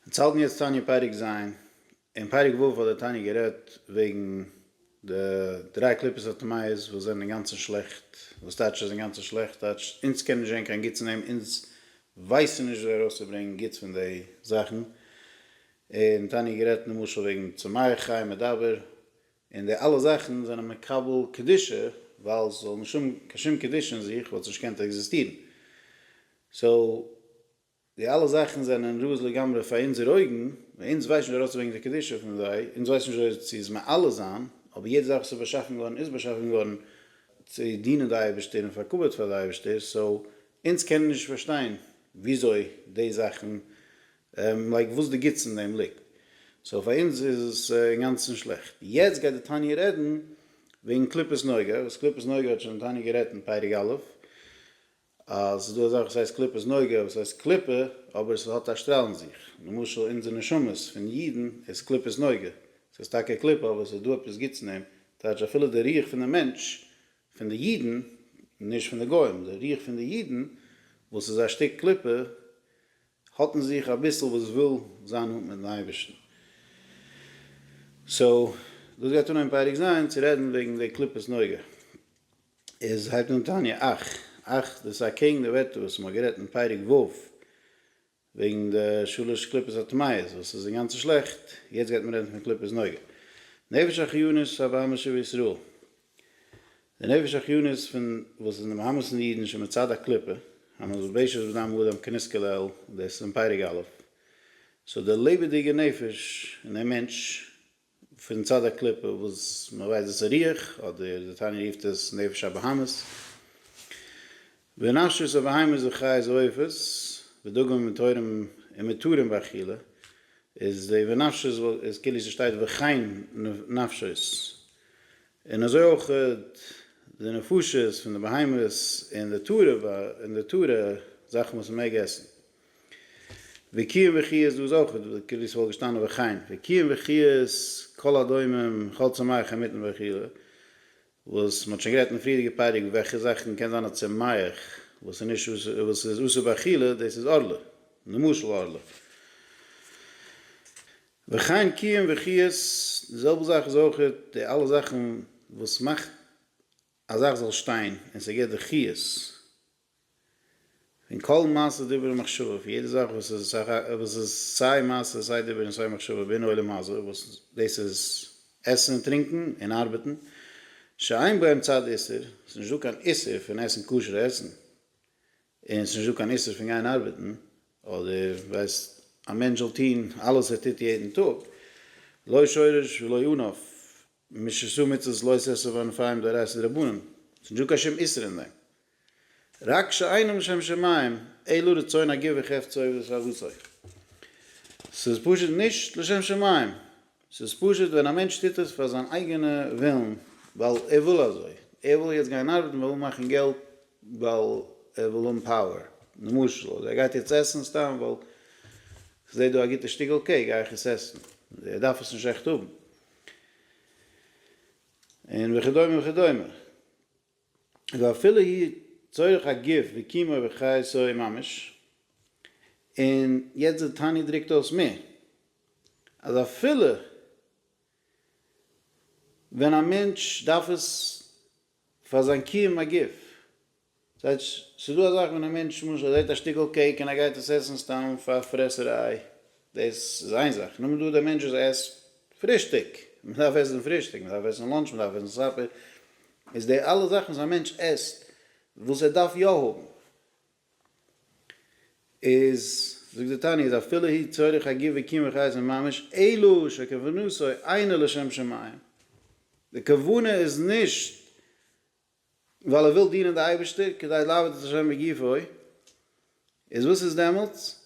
אונז האלטן יעצט תניא פרק ז', אין פרק ו' האט דער תניא גערעדט וועגן די דריי קליפות הטמאות וואס זענען אינגאנצן שלעכט, וואס טייטש איז אינגאנצן שלעכט? טייטש אונז קען נישט זען קיין גוטס אין דעם, אונז ווייסן נישט וויאזוי ארויסצוברענגן גוטס פון די זאכן, און תניא האט גערעדט למשל וועגן צומח חי מדבר, און די אלע זאכן זענען מקבל קדושה, ווייל ס'זאל נישט האבן קיין שום קדושה אין זיך וואלט עס נישט געקענט עקזיסטירן, סאו די אלע זאכן זענען רעות לגמרי פאר אונזער אויגן, ווייל אונז ווייסט נישט ארויסצוברענגען די קדושה פון זיי, אונז ווייסט נישט אויס צו עס מעלה זיין, אבער יעדע זאך וואס איז באשאפן געווארן איז באשאפן געווארן צו דינען די אייבערשטער און פאר כבוד פאר די אייבערשטער, סאו אונז קענען נישט פארשטיין וויאזוי די זאכן, לייק וואס די גוטס אין דעם ליגט, סאו פאר אונז איז עס אינגאנצן שלעכט. יעצט גייט די תניא רעדן וועגן קליפת נוגה, וואס קליפת נוגה האט שוין די תניא גערעדט אין פרק א', אז ס'איז דא אזאך וואס הייסט קליפות נוגה, וואס הייסט קליפה, אבער ס'האט א שטראל אין זיך. למשל אונזער נשמות פון אידן איז קליפות נוגה. ס'איז טאקע א קליפה אבער ס'איז דא עפעס גוטס אין אים. טייטש אפילו די רוח פון די מענטש, פון די אידן, נישט פון די גוים, די רוח פון די אידן, וואס איז א שטיק קליפה, האט אין זיך אביסל וואס וויל זיין נאנט מיטן אייבערשטן. סאו דאס גייט אנהייבן פאריג זיין צו רעדן וועגן די קליפות נוגה. איז הייבט אן תניא אח, אח, דאס איז אקעגן די ווערטער וואס מ'האט גערעדט אין פרק ו' וועגן די שלש קליפות הטמאות וואס איז אינגאנצן שלעכט, יעצט גייט מען רעדן פון קליפות נוגע נפש החיונית הבהמה שבישראל, די נפש החיונית פון וואס איז אין די בהמות פון די אידן שמצד הקליפה, המלובשת בדם האדם כנזכר לעיל, דאס איז אין פרק א', סאו די לעבעדיגע נפש אין דעם מענטש פון צד הקליפה וואס מען ווייסט דאס איז רוח, אדער די תניא רופט עס נפש הבהמית, ונפשות הבהמית וחיות ועופות, ודגים וטהורים ומטוהרים באכילה, איז די ונפשות איז כאילו ס'שטייט וכן נפשות, און אזוי אויך די נפשות פון די בהמות און די טהרה זאכן וואס מען מעג עסן. וקיום וחי' איז דאס אויך כאילו ס'וואלט געשטאנען וכן וקיום וחי' איז כל הדומם כל צמח המתים וכו' וואס מ'האט שוין גערעדט אין פריערדיגע פרק וועלכע זאכן קען זיין א צומח וואס איז נישט וואס איז אסור באכילה דאס איז ארלה למשל ארלה וכן קיום וחי' די זעלבע זאך איז אויך די אלע זאכן וואס מאכט א זאך זאל שטיין און ס'געבט די חיות. און כל מעשה דיבור ומחשבה, פון יעדע זאך וואס איז וואס איז סיי מעשה סיי דיבור און סיי מחשבה בין העולם הזה, וואס דאס איז עסן און טרינקען און ארבעטן, שאין בהם צד איסור, ס'איז נישטא קיין איסור פון עסן כשר'ע עסן, און ס'איז נישטא קיין איסור פון גיין ארבעטן, אדער ווייסט א מענטש זאל טון אלעס ער טוט יעדן טאג, לא שורש ולא ענף, משסו מצות לא ששו וענפיים דאורייתא דרבנן, ס'נישט דא קיין שום איסור אין דעם. רק שאינו משם שמים, אלא רצון הגוף וחפצו ושאיפתו. ס'איז פשוט נישט לשם שמים. ס'איז פשוט ווען א מענטש טוט עס פאר זיין אייגענע ווילן, ווייל ער וויל אזוי. ער וויל יעצט גיין ארבעטן ווייל ער וויל מאכן געלט, ווייל ער וויל האבן פאוער, למשל. אדער ער גייט יעצט עסן סתם ווייל כ'זע דא א גוטע שטיקל קעיק, גיי איך עס עסן. ער דארף עס נישט עכט האבן. און וכדומה וכדומה. ואפילו היא צורך הגוף וקיומו וחייתו ממש, און יעצט די תניא דרוקט אויס מער, אז אפילו ווען א מענטש דארף עס פאר זיין קיום הגוף. ס'הייטש, ס'איז דא א זאך ווען א מענטש למשל זעט א שטיקל קעיק און ער גייט עס עסן סתם פאר פרעסעריי, דאס איז איין זאך. נאר דא דער מענטש וואס עסט פרישטאג, מען דארף עסן פרישטאג, מען דארף עסן לאנטש, מען דארף עסן סאפער, איז די אלע זאכן וואס א מענטש עסט, וואס ער דארף יא האבן, איז, זאגט די תניא, איז אפילו הי' צריך הגי' וקיום וחייתו ממש, אלא שכוונתו אינה לשם שמים, די כוונה איז נישט ווייל ער וויל דינען די אייבערשטער, כדי לעבוד את ה' בגופו, איז וואס איז דעמאלטס?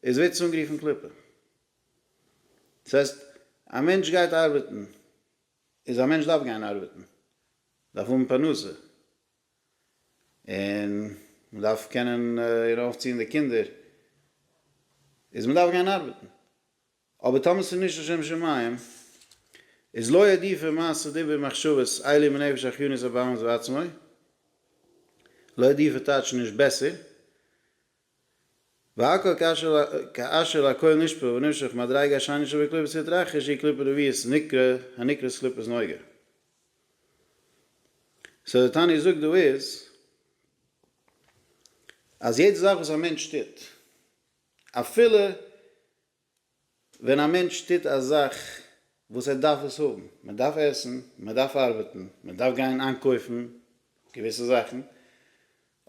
איז ווערט עס אנגערופן קליפה. דאס הייסט, א מענטש גייט ארבעטן, איז א מענטש דארף גיין ארבעטן, דארף האבן פרנסה, און מען דארף קענען איר אויפציען די קינדער, איז מען דארף גיין ארבעטן, אבער טאמער ס'איז נישט לשם שמים, איז לא עדיפה מעשה דיבור מחשבות עלי' מנפש החיונית הבאמת בעצמו, לא עדיפה טייטש נישט בעסער, והכל כאשר הכל נשפע ונמשך מדריגה השני שבקליפת יתרחש היא קליפה רביעית נקרא הנקראת קליפת נוגה. סאו די תניא זאגט דא איז אז יעדע זאך וואס א מענטש טוט אפילו ווען א מענטש טוט א זאך וואס ער דארף עס האבן, מען דארף עסן, מען דארף ארבעטן, מען דארף גיין איינקויפן געוויסע זאכן,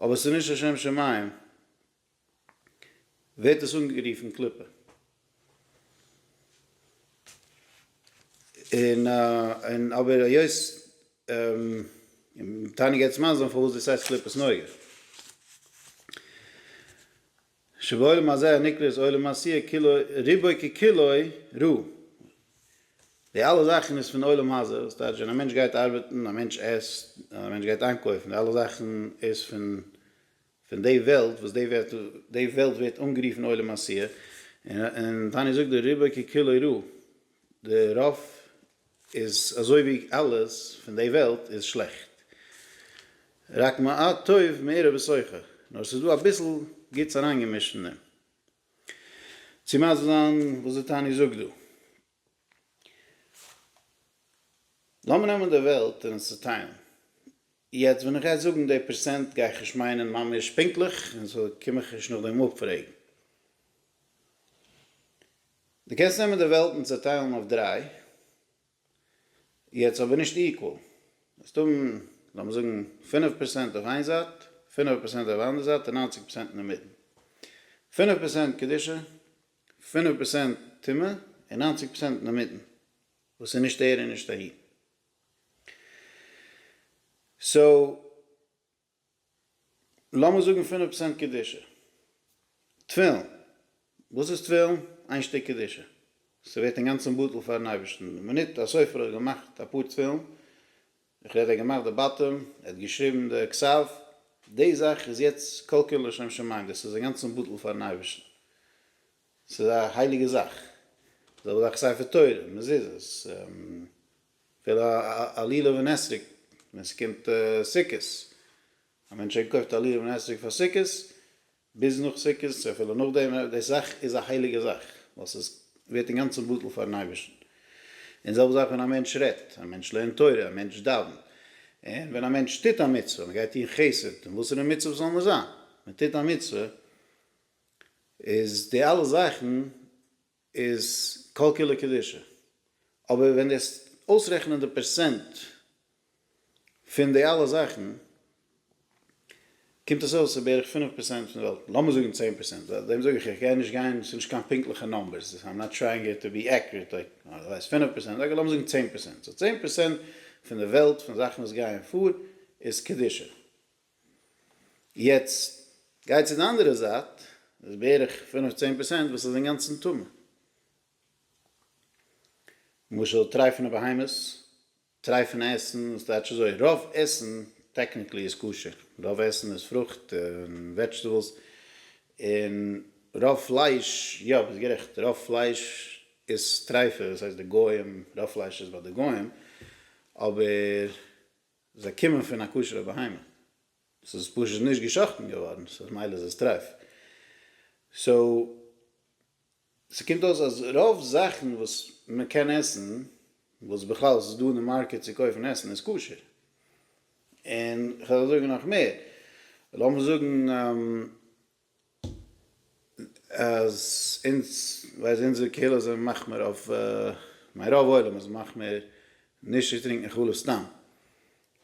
אבער ס'איז נישט לשם שמים, ווערט עס אנגערופן קליפה. און און אבער היות און תענוג עצם האזן פארוואס דאס הייסט קליפת נוגה. שבעולם הזה הנקרא עולם העשיה כולו רובו ככולו רע. די אלע זאכן איז פון עולם הזה, וואס טייטש ווען א מענטש גייט ארבעטן, א מענטש עסט, א מענטש גייט איינקויפן, די אלע זאכן איז פון פון די וועלט, וואס די ווערט די וועלט ווערט אנגערופן עולם העשיה, און און תניא זאגט דא רובו ככולו רע, די רוב איז אזוי ווי אלעס פון די וועלט איז שלעכט, רק מעט טוב מעורב בסוכה, נאר עס איז דא אביסל גוטס אריינגעמישט אין דעם, צו מסביר זיין וואס די תניא זאגט דא. לאמיר נעמען די וועלט און עס צעטיילן, יעצט ווען איך גיי זאגן די פערסענט גיי איך נישט מיינען ממש פונקטליך און סאו קום איך נישט נאכדעם אפפרעגן. די קענסט נעמען די וועלט און צעטיילן אויף דריי, יעצט אבער נישט איקוואל, וועסט האבן לאמיר זאגן פינף פערסענט אויף איין זייט, פינעווע פערסענט אויף אנדער זייט און ניינציג פערסענט אינמיטן. פינף פערסענט קדושה, פינף פערסענט טומאה און ניינציג פערסענט אינמיטן וואס איז נישט הער און נישט אהין. סאו לאמיר זאגן פינף פראצענט קדושה. תפילין, וואס איז תפילין? איין שטיק קדושה. ס'ווערט אינגאנצן בטל פארן אייבערשטן. די מינוט א סופר האט געמאכט אפאר תפילין, איך רעד ער האט געמאכט די באטעם, ער האט געשריבן די כסף, די זאך איז יעצט כל כולו לשם שמים, דאס איז אינגאנצן בטל פארן אייבערשטן. ס'איז א הייליגע זאך. זעלבע זאך ספר תורה, מזוזות, אפילו א לולב און אתרוג ווען ס'קומט סוכות, א מענטש איינקויפט א לולב און אתרוג פאר סוכות, ביז נאך סוכות, אפילו נאכדעם, די זאך איז א הייליגע זאך, ווייל ס'איז ווערט אינגאנצן בטל פאר'ן אייבערשטן. און זעלבע זאך ווען א מענטש רעדט, א מענטש לערנט תורה, א מענטש דאווענט, און ווען א מענטש טוט א מצוה, מען גייט טון חסד, און וואסערע מצוה ס'זאל נאר זיין, מען טוט א מצוה, איז די אלע זאכן איז כל כולו קדושה. אבער ווען דו עסט אויסרעכענען די פערסענט פון די אלע זאכן קומט עס אויס ס'איז בערך פינף פערסענט פון די וועלט, לאמיר זאגן צען פערסענט, ווייל דעם זאג איך איך גיי נישט גיין ס'איז נישט קיין פונקטליכע נאמבערס איים נאט טרייאינג איט טו בי עקוריעט לייק די ווייסט פינף פערסענט אקעי לאמיר זאגן צען פערסענט, סאו צען פערסענט פון די וועלט פון זאכן וואס גייען פאר איז קדושה. יעצט גיי צו די אנדערע זייט, דאס איז בערך פינף צען פערסענט וואס איז אינגאנצן טמא. למשל טרייפענע בהמות, טרייפענע עסן, וואס טייטש אזוי? רוב עסן טעקניקלי איז כשר, רוב עסן איז פרוכט און וועדזשטעבלס, און רוב פלייש, יא ביסט גערעכט, רוב פלייש איז טרייפה, דאס הייסט די גוים, רוב פלייש איז ביי די גוים, אבער. זיי קומען פון א כשר'ע בהמה, עס איז פשוט נישט גע'שחט'ן געווארן, סאו ממילא איז עס טרייף. סאו, ס'קומט אויס אז רוב זאכן וואס מען קען עסן, וואס בכלל עס איז דא אין די מארקעט צו קויפן עסן, איז כשר. און כ'וועל זאגן נאך מער, לאמיר זאגן, אז אונז ווייל אונזער קהילה זענען מחמיר אויף מיין רוב עולם איז מחמיר נישט צו טרינקען חלב סתם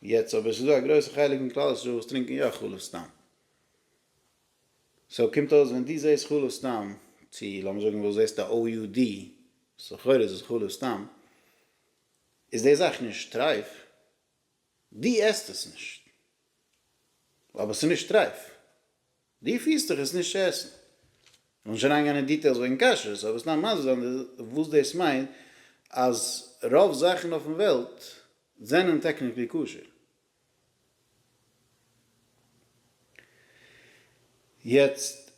יעצט אבער ס'איז דא א גרויסע חלק אין כלל ישראל וואס טרינקען יא חלב סתם סאו קומט אויס ווען דו זעסט חלב סתם צו לאמיר זאגן וואס זעסט א OUD סאו לכאורה איז עס חלב סתם איז די זאך נישט טרייף. דו עסט עס נישט אבער עס איז נישט רייף, דו פירסט דיך עס נישט צו עסן. מ'זאל נישט אריינגיין אין דיטעילס וועגן כשרות, אבער סתם מסביר זיין וואס דאס מיינט אז רוב זאכן אויפן וועלט זענען טעקניקלי כשר. יעצט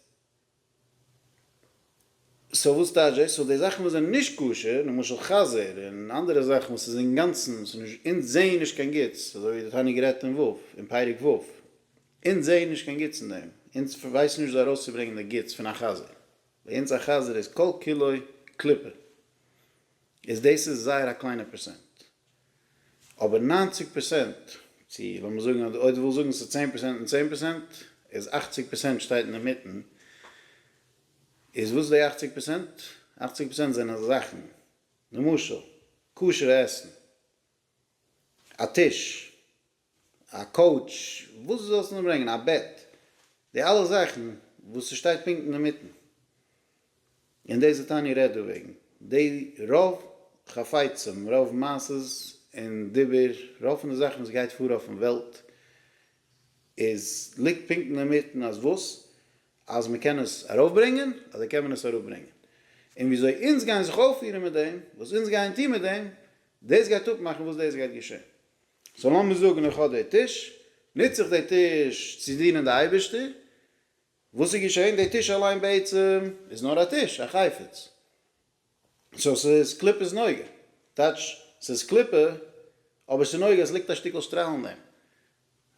סאו וואס טייטש דאס? סאו די זאכן וואס זענען נישט כשר, למשל חזיר און אנדערע זאכן וואס איז אינגאנצן, ס'איז נישט, אונז זעען נישט קיין גוטס, אזוי ווי די תניא גערעדט אין ו', אין פרק ו', אונז זעען נישט קיין גוטס אין דעם, אונז ווייסן נישט וויאזוי ארויסצוברענגען די גוטס פון א חזיר, ביי אונז א חזיר איז כל כולו קליפה, איז דאס איז זייער א קליינע פערסענט. אבער ניינציג פראצענט, צו לאמיר זאגן אז אויב דו ווילסט זאגן ס'איז צען פראצענט און צען פראצענט, איז אכציג פראצענט שטייט אינמיטן, איז וואס איז די אכציג פראצענט? אכציג פראצענט זענען זאכן, למשל, כשר'ע עסן, א טיש. א קאוטש, וואס דו זאלסט נאר ברענגען, א בעט, די אלע זאכן וואס ס'שטייט פונקט אינמיטן, און דאס וואס טאני רעדט דערוועגן, די רוב חפצים, רוב מעשות און דיבור, רוב פון די זאכן וואס גייט פאר אויפן וועלט, איז ליגט פונקט אינמיטן אז וואס? אז מ'קען עס ארויפברענגען, אזוי קען מען עס אראפברענגען. און וויאזוי אונז גייען זיך אויפפירן מיט דעם, וואס אונז גייען טון מיט דעם, דאס גייט אפמאכן וואס דאס גייט געשען. סאו לאמיר זאגן איך האב די טיש, נוץ איך די טיש צו דינען די אייבערשטער, וואס איז געשען? די טיש אליין בעצם איז נאר א טיש, א חפץ, סאו ס'איז קליפות נוגע, טייטש ס'איז קליפה אבער ס'איז נוגע, עס ליגט א שטיקל שטראל אין דעם,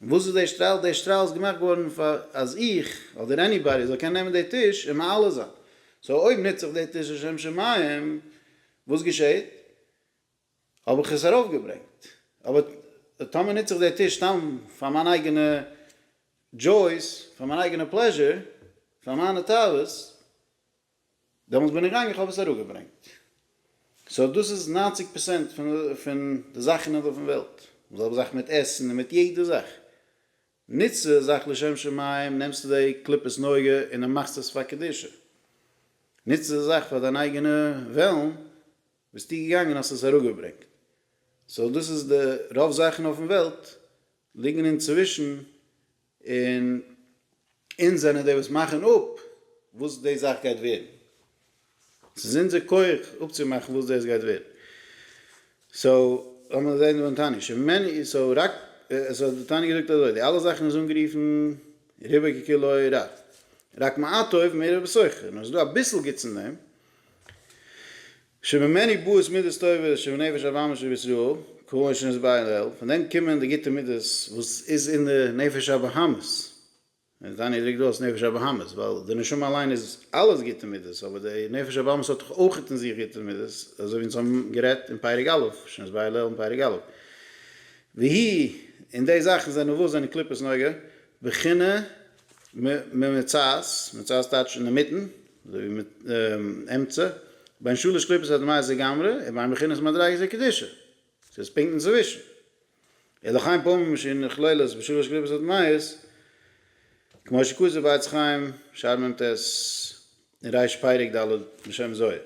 און וואס איז די שטראל? די שטראל איז געמאכט געווארן פאר אז איך אדער עניבאדי זאל קענען נעמען די טיש און מעלה זיין, סאו אויב נוץ איך די טיש לשם שמים, וואס געשעט? האב איך עס ארויפגעברענגט. אבער טאמער נוץ איך די טיש סתם פאר מיין אייגענע דזשויס, פאר מיין אייגענע פלעזשור, פאר מיינע תאוות, דעמאלטס בין איך געגאנגען איך האב עס אראפגעברענגט. סאו דאס איז ניינציג פערסענט פון די זאכן אויף דעם וועלט. די זעלבע זאך מיט עסן און מיט יעדע זאך. נוצט די זאך לשם שמים, נעמסטו די קליפת נוגה און מאכסט עס פאר קדושה. נוצט די זאך פאר דיין אייגענע וועלן, ביסטו געגאנגען האסט עס אראפגעברענגט. סאו דאס איז די רוב זאכן אויפן וועלט ליגן אינצווישן און אונז זענען די וואס מאכן אפ וואס די זאך גייט ווערן. ס'איז אונזער כח אפצומאכן וואס דאס גייט ווערן. סאו לאמיר זען דעם תניא. שמעני סאו רק סאו די תניא זאגט אזוי די אלע זאכן איז אנגערופן ריבוי ככולו רב. רק מעט טוב מער איבער סוחר. נאר ס'איז דא אביסל גוטס אין דעם. שממני באות מידות טובות שמנפש הבאמה שבישראל, כהאי שנסביר לעיל, פון דעם קומען די גוטע מידות וואס איז אין די נפש הבאמית, און תניא דרוקט אויס נפש הבאמית, ווייל די נשמה אליין איז אלעס גוטע מידות, אבער די נפש הבאמית האט דאך אויך אין זיך גוטע מידות, אזוי ווי אונז האבן גערעדט אין פרק א', שנסביר לעיל אין פרק א', והיא, און די זאכן זענען וואס זענען קליפות נוגה, בחינה ממצות, מצות טייטש אינמיטן, אזוי ווי אמצע, בין שלש קליפות הדמעות לגמרי ובין בחינת מדריגת הקדושה, ס'איז פונקט אינצווישן. און לחיים פעמים שהיא נכללת בשלש קליפות הדמעות, כמו שכתוב בעץ חיים, שער מ ט, אין רש פרק ד' בשם זוהר.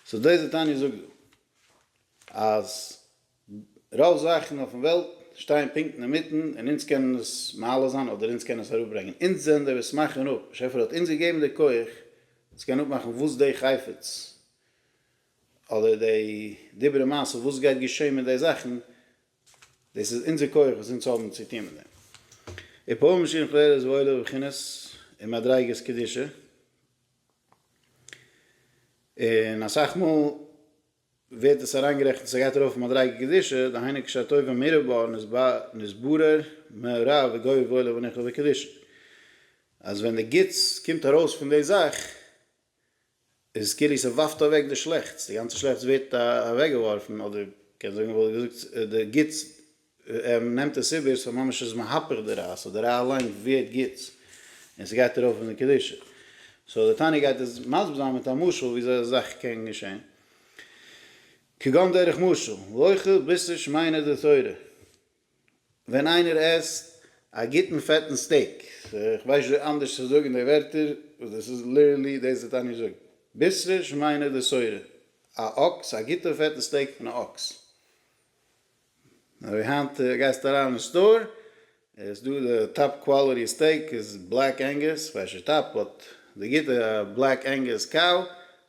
סאו דאס איז די תניא זאגט דא, אז. רוב זאכן אויפן וועלט שטייען פונקט אינמיטן און אונז קענען עס מעלה זיין אדער אונז קענען עס אראפברענגען. אונז זענען די וואס מאכן אפ. באשעפער האט אונז געגעבן די כח צו קענען אפמאכן וואס די חפץ אדער די דברי מעשה וואס גייט געשען מיט די זאכן. דאס איז אונזער כח וואס אונז האבן צו טון מיט דעם. און פועל משיח לערער איז וואוילער בבחינת און מדריגת קדושה. און אסאך מאל. ווערט דאס אריינגערעכנט אז עס גייט ארויף מדריגה קדישא, דהיינו קשה טובה מרובה נתברר מהרה וגובה ועולה וניחא וקדישא, אז ווען די גוטס קומט ארויס פון די זאך, איז עס כאילו עס ווארפט אוועק די שלעכטס, די גאנצע שלעכטס ווערט אוועקגעווארפן, אדער מ'קען זאגן מ'וואלט געזאגט די גוטס ער נעמט עס איבער, ס'איז ממש איז מהפך די ריי', סאו די ריי' אליין ווערט גוט, און ס'גייט ארויף אין די קדושה. סאו דער תניא גייט עס מסביר זיין מיט א משל וויאזוי אזא זאך קען געשען. כגון דרך משל, לאוכל בשר שמיינה דתורה, ווען איינער עסט א גוטן פעטן סטעיק, איך ווייס נישט ווי אנדערש צו זאגן די ווערטער, וואס דאס איז ליטערלי דאס די תניא זאגט, בשרה שמיינה דשורה, א אקס, א גוטע פעטע סטעיק פון א אקס. אזוי היינט גייסטו אריין אין סטאר איז דא די טאפ קוואליטי סטעיק איז בלעק ענגוס פאר שי טאפ האט די גוטע בלעק ענגוס קאו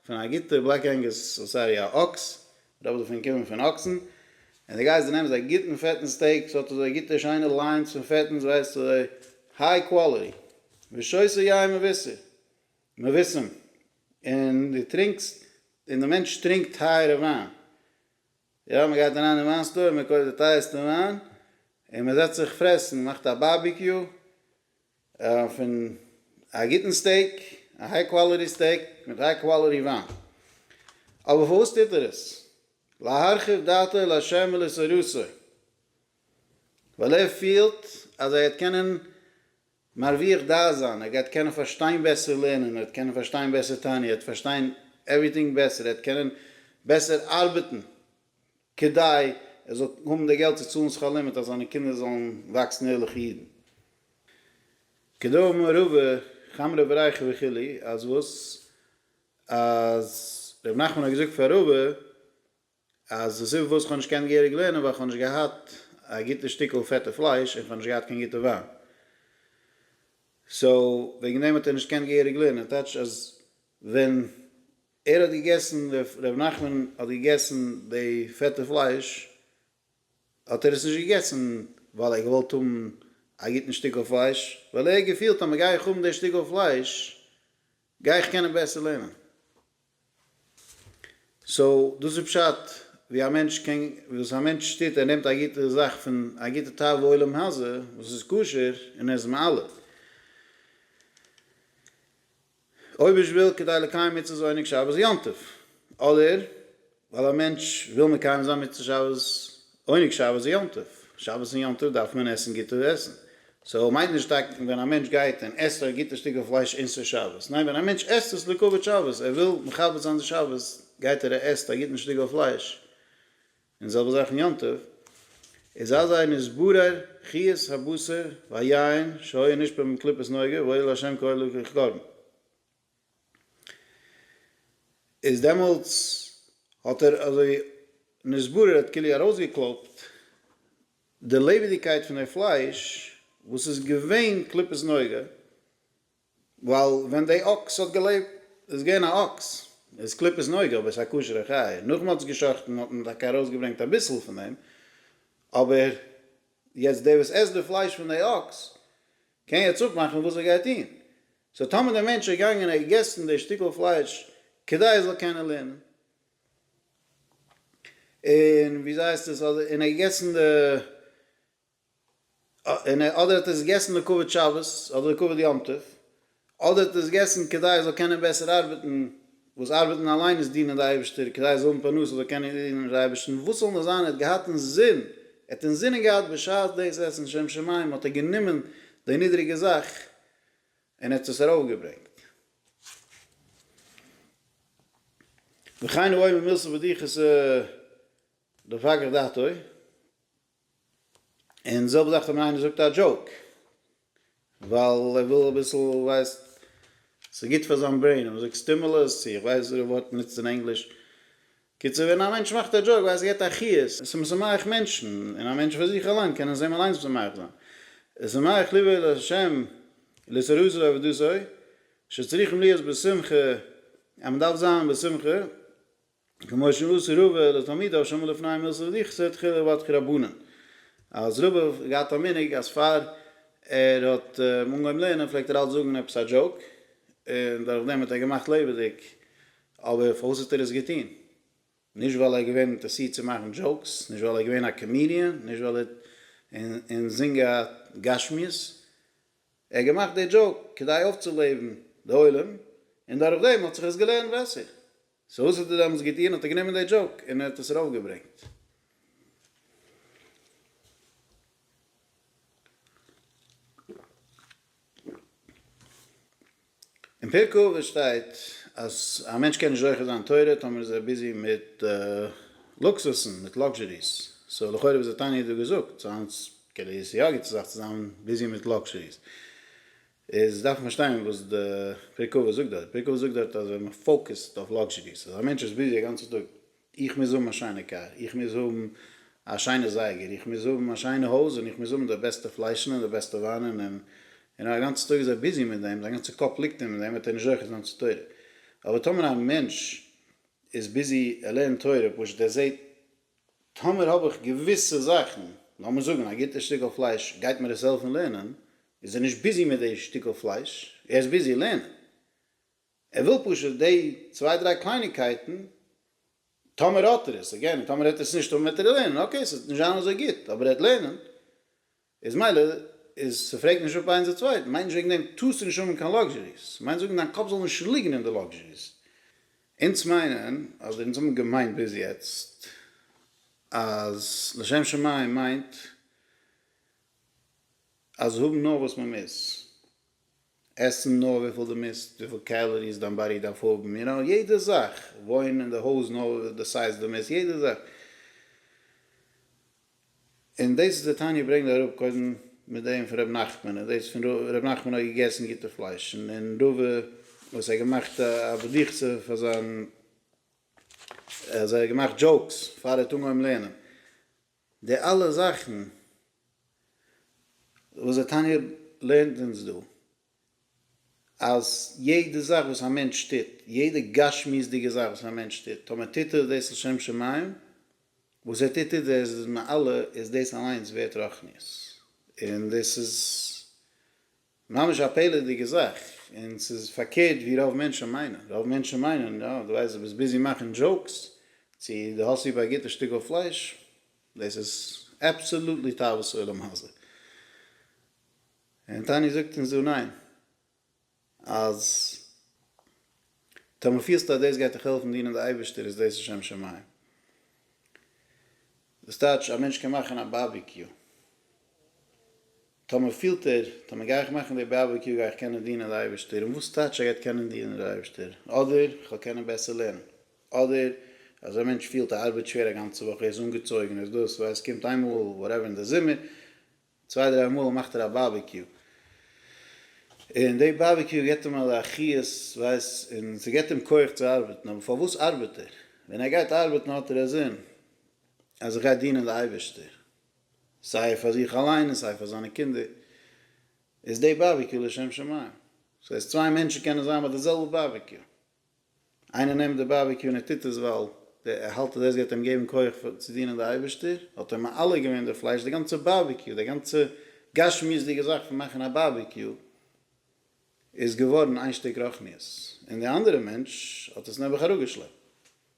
פון א גוטע בלעק ענגוס סארי א אקס רוב דערפון קומען פון אקסן און די גייסט די נעמסט א גוטן פעטן סטעיק ס'האט אזוי גוטע שיינע ליינס פון פעטנס ווייסט אזוי היי קוואליטי ושויסע יין מבשר מבשם און די טרינקסט און די מענטש טרינקט טייערע וויין. יא מען גייט אריין אין וויין סטאר מען קויפט די טייערסטע וויין און מען זעצט זיך פרעסן מאכט א בארביקיו פון א גוטן סטעיק א היי קוואליטי סטעיק מיט היי קוואליטי וויין אבער פארוואס טוט ער עס להרחיב דעתו לה' ולשרותו ווייל ער פילט אז ער וועט קענען מרוויח דעת זיין, ער גייט קענען פארשטיין בעסער לערנען, ער וועט קענען פארשטיין בעסער תענית, ער וועט פארשטיין עווריטינג בעסער, ער וועט קענען בעסער ארבעטן כדי ער זאל האבן די געלט צו צאלן שכר לימוד אז זיינע קינדער זאלן וואקסן ערליכע אידן. כדאמר רבא כאמרי ברייכא וכו', אז וואס? אז ר' נחמן האט געזאגט פאר רבא. אז די סיבה פארוואס איך האב נישט געקענט געהעריג לערנען ווייל איך האב נישט געהאט א גוטע שטיקל פעטע פלייש און איך האב נישט געהאט קיין גוטע וויין. סאו וועגן דעם האט ער נישט געקענט געהעריג לערנען. טייטש אז ווען ער האט געגעסן, ר' נחמן האט געגעסן די פעטע פלייש, האט ער עס נישט געגעסן ווייל ער האט געוואלט האבן א גוטן שטיקל פלייש, ווייל ער האט געפילט אז מ'גיי איך האבן די שטיקל פלייש גיי איך קענען בעסער לערנען. סאו דאס איז פשט ווי א מענטש קען וואס א מענטש טוט ער נעמט א גוטע זאך פון א גוטע טייל בעולם הזה וואס איז כשר און ער איז מעלה אויב איך וויל כדי לקיים מצות עונג שבת יום טוב אדער ווייל א מענטש וויל מקיים זיין מצות שבת, עונג שבת און יום טוב, שבת און יום טוב דארף מען עסן גוטע עסן, סאו מיינט נישט טאקע ווען א מענטש גייט און עסט א גוטע שטיקל פלייש אין ס'איז שבת, ניין ווען א מענטש עסט עס לכבוד שבת, ער וויל מכבד זיין די שבת גייט ער ער עסט א גוטן שטיקל פלייש, און זעלבע זאך אין יום טוב, איז אזי נתברר חיות הבשר והיין שהיה נשפע מקליפת נוגה והועיל לה' כאלוק וכקרן. איז דעמאלטס האט ער אזוי נשברה האט כולי ארויסגעקלויבט די לעבעדיגקייט פון די פלייש וואס איז געווען קליפת נוגה, ווייל ווען די אקס האט געלעבט איז געווען א אקס איז קליפת נוגה אבער ס'איז א כשר'ע חיה, נאך מ'האט עס גע'שחט'ן האט מען טאקע ארויסגעברענגט אביסל פון דעם, אבער יעצט דער וואס עסט די פלייש פון די אקס קען יעצט אפמאכן וואס ער גייט טון. סאו טאמער דער מענטש איז געגאנגען און ער האט געגעסן די שטיקל פלייש כדי ער זאל קענען לערנען, און ווי ס'הייסט עס, אדער און ער האט געגעסן די, אדער האט ער עס געגעסן די כבוד שבת אדער די כבוד יום טוב, אדער האט ער עס געסן כדי ער זאל קענען בעסער ארבעטן, וואס ארבעטן אליין איז דינען די אייבערשטער, כדי ער זאל האבן פרנסה זאל קענען דינען די אייבערשטן, וואס זאל נאר זיין ער האט געהאט אינזין, ער האט אינזינען געהאט בשעת דאס עסן לשם שמים האט ער גענומען די נידריגע זאך און ער האט עס ארויף געברענגט. וכן הוא אומר מילסא בדיחותא דפקח דעתו. און די זעלבע זאך ווען איינער זאגט א דזשאוק ווייל ער וויל אביסל ווייסט ס'איז גוט פאר זיין ברעין און מ'זאגט סטימולוס צו איך ווייס וואס די ווארט מ'נוצט אין ענגליש קיצור ווען א מענטש מאכט א דזשאוק ווייסט ער געט א חיות און ס'משמח מענטשן און א מענטש פאר זיך אליין קען עס אים אליינס משמח זיין איז שמח ליבו אל השם לזרז לו עבודתו שצריכים להיות בשמחה אז מ'דארף זיין בשמחה. כמו שמעשה רבה לתלמידיו שמעו לפניו מילתא דכסא תחילה בת כרבנן, אז רבה האט געהאט א מנהג אז פאר ער האט אנגעהויבן לערנען פלעגט ער אלץ זאגן עפעס א דזשאוק, און דורך דעם האט ער געמאכט לעבעדיג, אבער פארוואס האט ער עס געטון? נישט ווייל ער איז געווען אינטערסירט צו מאכן דזשאוקס, נישט ווייל ער איז געווען א קאמידיען, נישט ווייל ער האט און זינג א גשמיות, ער האט געמאכט די דזשאוק כדי אויפצולעבן די עולם, און דורך דעם האט זיך עס געלערנט בעסער, סאו וואס האט ער דעמאלטס געטוען? האט ער גענומען די דזשאוק און ער האט עס ארויף געברענגט. אין פרק אבות שטייט אז א מענטש קען נישט זוכה זיין תורה טאמער איז ער ביזי מיט לוקסוסן, מיט לאקזשעריס. סאו לכאורה וואס האט תניא דא געזאגט? סאו היינט קען ער עס יא גוט צו זיך צו זיין ביזי מיט לאקזשעריס. איז דארף מען פארשטיין וואס די פר' קבע זאגט דארט, פר' קבע זאגט דארט אז ווען מען פאוקעסט אויף לאקזשעריס, אז א מענטש איז ביזי א גאנצע טאג, איך מוז האבן א שיינע קאר, איך מוז האבן א שיינע זייגער, איך מוז האבן א שיינע הויז, און איך מוז האבן די בעסטע פליישן און די בעסטע וויינען, און און א גאנצע טאג איז ער ביזי מיט דעם, זיין גאנצע קאפ ליגט אים אין דעם, וועט ער נישט זוכה זיין צו תורה. אבער טאמער א מענטש איז ביזי ער לערנט תורה, פשוט ער זעט טאמער האב איך געוויסע זאכן, לאמיר זאגן א גוטע שטיקל פלייש גייט מיר עס העלפן לערנען, איז ער נישט ביזי מיט די שטיקל פלייש, ער איז ביזי לערנען, ער וויל פשוט די צוויי דריי קלייניקייטן, טאמער האט ער עס, עגעין, און טאמער העט ער עס נישט האבן וועט ער לערנען, אקעי ס'וועט נישט זיין אזוי גוט, אבער ער העט לערנען, איז מילא, איז ס'פרעגט נישט אפ איינס די צווייטן, מיינט נישט וועגן דעם טארסטו נישט האבן קיין לאקזשעריס, מיינט זאגן דיין קאפ זאל נישט ליגן אין די לאקזשעריס. אונז מיינען, אדער אונז האבן געמיינט ביז יעצט, אז לשם שמים מיינט אז האבן נאר וואס מען מוז, עסן נאר וויפיל דו מוזט, וויפיל קעלעריס דיין באדי דארף האבן, יו נאו, יעדע זאך, וואוינען אין די הויז נאר די סייז דו מוזט, יעדע זאך. און דאס איז די תניא ברענגט אראפ קודם מיט דעם פון רבי נחמן, און דאס פון רבי נחמן האט געגעסן גוטע פלייש, און רובא וואס ער האט געמאכט א בדיח'צע פאר זיין, אז ער האט געמאכט דזשאוקס פאר ער האט אנגעהויבן לערנען. די אלע זאכן וואס די תניא לערנט אונז דא, אז יעדע זאך וואס א מענטש טוט, יעדע גשמיות'דיגע זאך וואס א מענטש טוט, טאמער טוט ער דאס לשם שמים, וואס ער טוט איז ער איז מעלה, איז דאס אליינס ווערט רוחניות, און דאס איז ממש א פלא'דיגע זאך, און ס'איז פארקערט ווי רוב מענטשן מיינען, רוב מענטשן מיינען יא דו ווייסט דו ביסט ביזי מאכן דזשאוקס, צו דו האסט ליב א גוטע שטיקל פלייש, דאס איז אבסאלוטלי תאוות עולם הזה, און תניא זאגט אונז דא ניין, אז. טאמער פילסטו אז דאס גייט דיך העלפן דינען די אייבערשטער איז דאס לשם שמים. דאס טייטש א מענטש קען מאכן א בארביקיו. טאמער פילט ער, טאמער גיי איך מאכן די בארביקיו גיי איך קענען דינען די אייבערשטער. און וואס טייטש ער גייט קענען דינען די אייבערשטער? אדער איך וועל קענען בעסער לערנען. אדער אזא מענטש פילט ער ארבעט שווער א גאנצע וואך ער איז אנגעצויגן ער איז דאס ווייל עס קומט איינמאל וואטעווער אין די זומער צוויי דריי מאל מאכט ער א בארביקיו, און די בארביקיו געבט אים אזא חיות ווייס און ס'געבט אים כח צו ארבעטן, אבער פארוואס ארבעט ער? ווען ער גייט ארבעטן האט ער א זין אז ער גייט דינען די אייבערשטער, סיי פאר זיך אליין און סיי פאר זיינע קינדער, איז די בארביקיו לשם שמים, ס'הייסט צוויי מענטשן קענען זיין ביי די זעלבע בארביקיו, איינער נעמט די באבע קו און ער טוט עס ווייל ער האלט אז דאס גייט אים געבן כח צו דינען די אייבערשטער, האט ער מעלה געווען די פלייש, די גאנצע באבע קו, די גאנצע גשמיות'דיגע זאך פון מאכן א באבע קו איז געווארן איין שטיק רחניות, און די אנדערע מענטש האט עס נעבעך אראפגעשלעפט.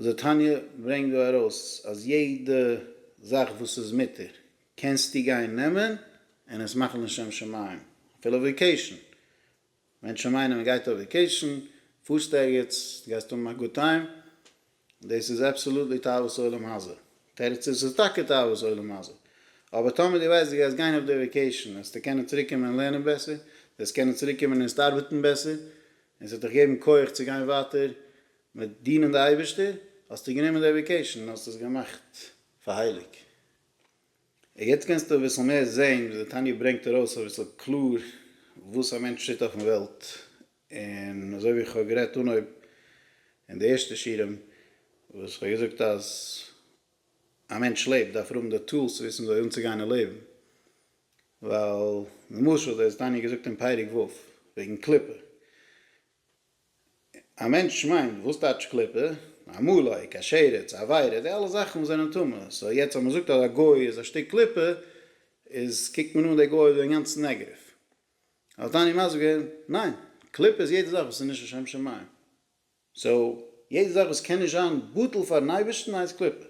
די תניא ברענגט דא ארויס אז יעדע זאך וואס איז מותר קענסטו גיין נעמען און עס מאכן לשם שמים, אפילו וועיקעישן, מענטשן מיינען מען גייט אויף וועיקעישן, פארסט ערגעץ, דו גייסט האבן א גוד טיים, דאס איז אבסאלוטלי תאוות עולם הזה, תירוץ איז ס'איז טאקע תאוות עולם הזה, אבער טאמער דו ווייסט דו גייסט גיין אויף די וועיקעישן וועסטו קענען צוריק קומען און לערנען בעסער, דו וועסט קענען צוריק קומען און ערנסט ארבעטן בעסער, און ס'וועט דיך געבן כח צו גיין ווייטער מיט דינען די אייבערשטער האסטו גענומען די עדוקעישאן און האסט עס געמאכט פאר הייליג. און יעצט קענסטו אביסל מער זעהן וואס די תניא ברענגט ארויס אביסל קלאר וואס א מענטש טוט אויפן וועלט, און אזוי ווי איך האב גערעדט אנהויב אין די ערשטע שיעורים וואס איך האב געזאגט אז א מענטש לעבט דארף ער האבן די טולס צו וויסן וויאזוי אנצוגיין אין לעבן, ווייל למשל דאס איז תניא געזאגט אין פרק ו' וועגן קליפה. א מענטש מיינט, וואס טייטש קליפה? א מולאיק, א שרץ, א וויירע, די אלע זאכן זענען טמא, סאו יעצט אז מ'זאגט אז א גוי איז א שטיק קליפה, איז קוקט מען אן די גוי ווי אינגאנצן נעגעטיוו. האט עני מסביר? ניין! קליפה איז יעדע זאך וואס איז נישט לשם שמים. סאו, יעדע זאך וואס קען נישט זיין בטל פארן אייבערשטן הייסט קליפה.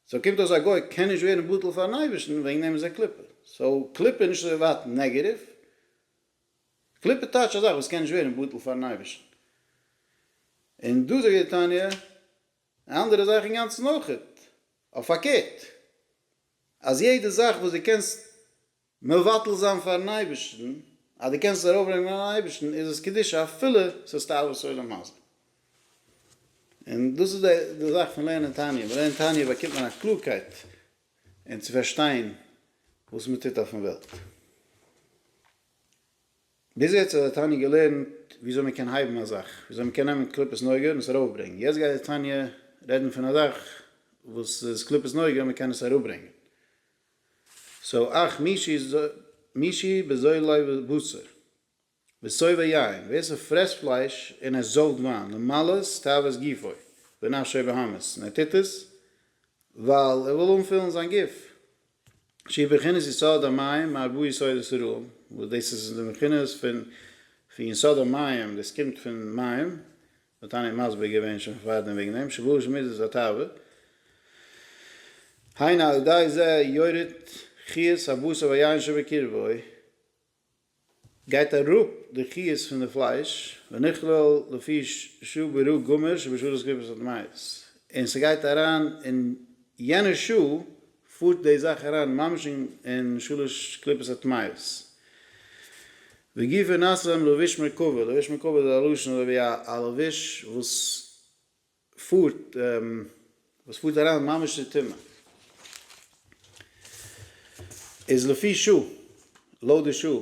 סאו קומט אויס א גוי קען נישט ווערן בטל פארן אייבערשטן, וועגן דעם איז ער קליפה. סאו, קליפה איז נישט אזוי ווייט נעגעטיוו, קליפה טייטש א זאך וואס קען נישט ווערן בטל פארן אייבערשטן. און דא זאגט די תניא א אנדערע זאך אינגאנצן אויך, אויף פארקערט, אז יעדע זאך וואס דו קענסט מבטל זיין פארן אייבערשטן, אז דו קענסט עס ארויפברענגען אן אייבערשטן, איז עס קדושה אפילו ס'איז תאוות עולם הזה. און דאס איז די זאך פון לערנען תניא, מען לערנט תניא באקומט מען א קלארקייט, און צו פארשטיין וואס מען טוט אויפן וועלט. ביז יעצט האט דער תניא געלערנט וויאזוי מען קען הייבן א זאך, וויאזוי מען קען נעמען קליפת נוגה און עס ארויפברענגען, יעצט גייט דער תניא רעדן פון א זאך וואס איז קליפת נוגה און מען קען עס אראפברענגען. סאו אך מישי בזוילי ובשר. מסובב יין, ווער ס'פרעסט פלייש און ער זויפט וויין, למלאות תאוות גופו ונפשו בהמות, און ער טוט עס ווייל ער וויל אנפילן זיין גוף, שהיא בחינת יסוד המים מהרבה יסודות רעים, וואס דאס איז די בחינות פון יסוד המים, דאס קומט פון מים, והתניא האט מסביר געווען שוין פארדעם וועגן דעם, שבו של מידות התאווה, היינו על ידי זה יורד חיות הבשר והיין שבקרבו, גייט אראפ די חיוס פון די פלייש, ונכלל לפי שעה ברא גמור שבשעה דאס קליפות האט מייעס, און ס'גייט אריין אין יענע שעה פארט די זאך אריין ממש אין שלש קליפות הטמאות. וגופא נעשה להם לבוש מרכבה, לבוש מרכבה איז א לשון אזוי ווי א לבוש וואס. פארט, וואס פארט אריין ממש אין טומאה, איז לפי שעה, לויט די שעה,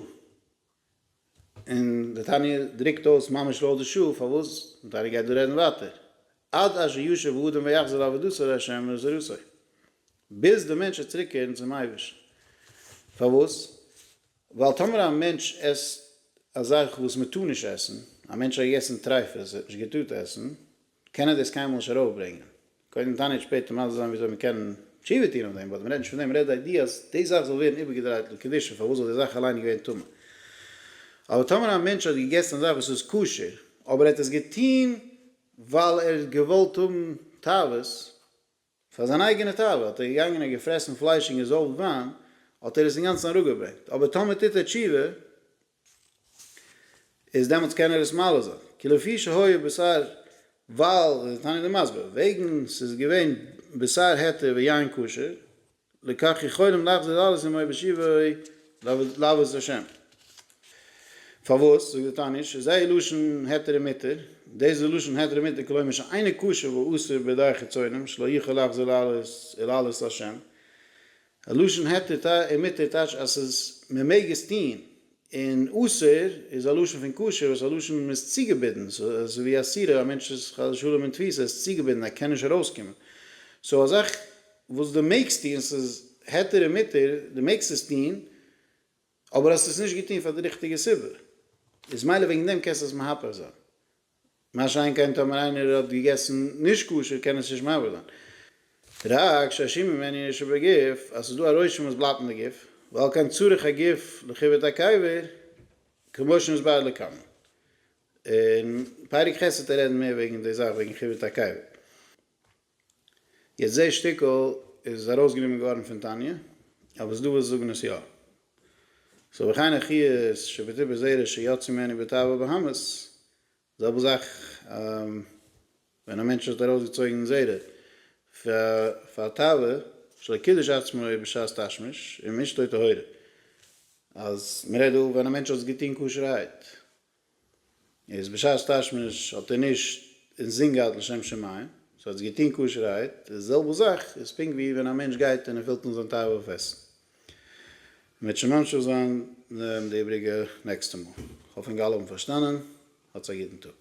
און די תניא דרוקט אויס ממש לויט די שעה, פארוואס? די תניא גייט דא רעדן ווייטער, עד אשר ישוב האדם ויחזור לעבודתו לה' ולזרעותו, ביז די מענטש וועט צוריק קערן צום אייבערשטן, פארוואס? ווייל טאמער א מענטש עסט א זאך וואס מען טאר נישט עסן, א מענטש האט געגעסן טרייפות, ער האט נישט געטארט עסן, קען ער דאס קיינמאל נישט ארויפברענגען. קודם תענית שפעטער מסביר זיין וויאזוי מען קען תשובה טון אויף דעם, באט מען רעדט נישט פון דעם, מען רעדט די איידיע אז די זאך זאל ווערן איבערגעדרייט לקדושה, פארוואס זאל די זאך אליין געווען טמא? אבער טאמער א מענטש האט געגעסן א זאך וואס איז כשר, אבער ער האט עס געטון ווייל ער האט געוואלט האבן תאוות, פאר זיין אייגענע תאווה האט ער געגאנגען און געפרעסן פלייש און געזויפט וויין, האט ער עס אינגאנצן אראפגעברענגט, אבער טאמער טוט ער תשובה, איז דעמאלטס קען ער עס מעלה זיין, כי לפי שהיה בשר, ווייל, איז דער תניא דאן מסביר, וועגן ס'איז געווען בשר היתר ויין כשר, לקח יכולים להחזיר אלעס אין מוהרא ש ויבואו לעבוד את השם. פארוואס? זאגט די תניא, שזהאי לשון היתר ומתר, דאס איז לשון היתר ומתר כלומר שאינו כשר ואסור בידי חיצונים שלא יכול להחזיר אלעס אלא אלעס להשם, א לשון היתר ומתר טייטש אז ס'איז מ'מעג עס טוהן, און אסור איז א לשון פון קשר וואס א לשון מען איז צוגעבינדן, סאו אזוי ווי אסירה א מענטש איז חס ושלום אין תפיסה ער איז צוגעבינדן ער קען נישט ארויסקומען, סאו א זאך וואס דו מעגסט טון ס'איז היתר און מותר דו מעגסט עס טון אבער האסט עס נישט געטון פאר די ריכטיגע סיבה איז מילא וועגן דעם קענסטו עס מהפך זיין. מה שאין כן טאמער איינער האט געגעסן נישט כשר קען עס נישט מעוור זיין. רק שהשי מ מענין איש שבגוף, אז ס'איז דא א רושם וואס בלייבט אין די גוף, ועל כן צריך א גוף לכיבוד הקבר, כמו שנסבר לעיל. אין פרק ח' וועט ער רעדן מער וועגן די זאך וועגן כיבוד הקבר. יעצט דעי שטיקל איז ארויסגענומען געווארן פון תניא, אבער סדווס זאגן עס יא. סאו וכן הכי איז שבטי בזרע שיצא ממני בתאוה בהמות, זעלבע זאך ווען א מענטש האט ארויסגעצויגן זרע פאר תאוה שלא קידש עצמו בשעת תשמיש, און משתו טהורה. אז מ'רעדט דא ווען א מענטש האט עס געטון כשר'הייט. איז בשעת תשמיש האט ער נישט אינזין געהאט לשם שמים, סאו האט עס געטון כשר'הייט, די זעלבע זאך איז פונקט ווי ווען א מענטש גייט און ער פילט אן זיין תאווה אויף עסן. מ'וועט שוין ממשיך זיין די איבריגע נעקסטע מאל. כ'האף אונגאלע האבן פארשטאנען. האטס א גוטן טאג.